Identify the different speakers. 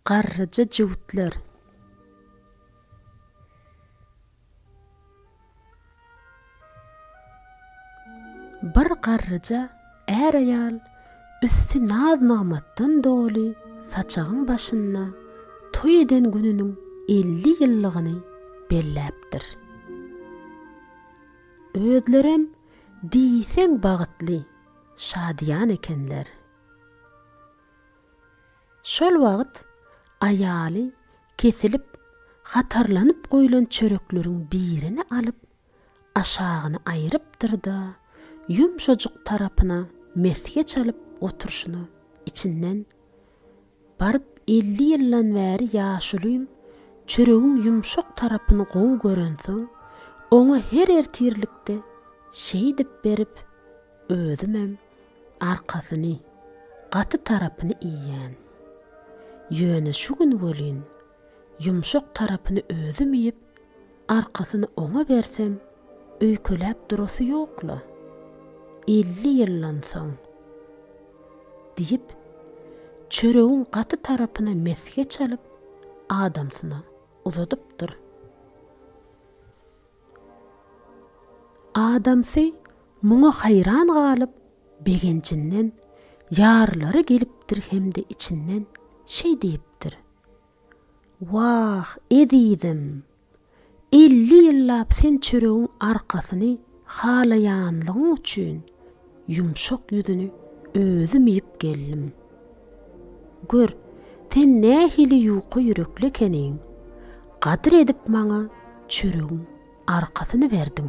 Speaker 1: Garryja jüwtler. Bir garryja är-aýal üsti naz-nygmatdan doly saçagyň başynda toý eden gününiň elli ýyllygyny belläpdir. Özlerem diýseň bagytly, şadyýan ekenler. Şol wagt aýaly kesilip hatarlanyp goýlan çörekleriň birini alyp, aşagyny aýrypdyr-da, ýumşajyk tarapyna mesge çalyp oturyşyna içinden. Baryp elli ýyldan bäri ýaşulyň çöregiň ýumşak tarapyny gowy görensoň, oňa her ertirlikde şeýdip berip, özümem arkasyny, gaty tarapyny iýýän. Ýöne şu gün welin Ýumşak tarapyny özüm iýip, arkasyny oňa bersem, öýkeläp durasy ýok-la. Elli ýyldan soň. Diýip, çöregiň gaty tarapyna mesge çalyp, adamsyna uzadypdyr. Adamsy muňa haýran galyp, begenjinden ýarylary gelipdir hem-de içinden şeý diýipdir. Wah, ezizim! Elli ýyllap sen çöregiň arkasyny halaýanlygyň üçin ýumşak ýüzüni özüm iýip geldim. Gör, sen nähili ýuka ýürekli ekeniň, gadyr edip maňa çöregiň arkasyny berdiň.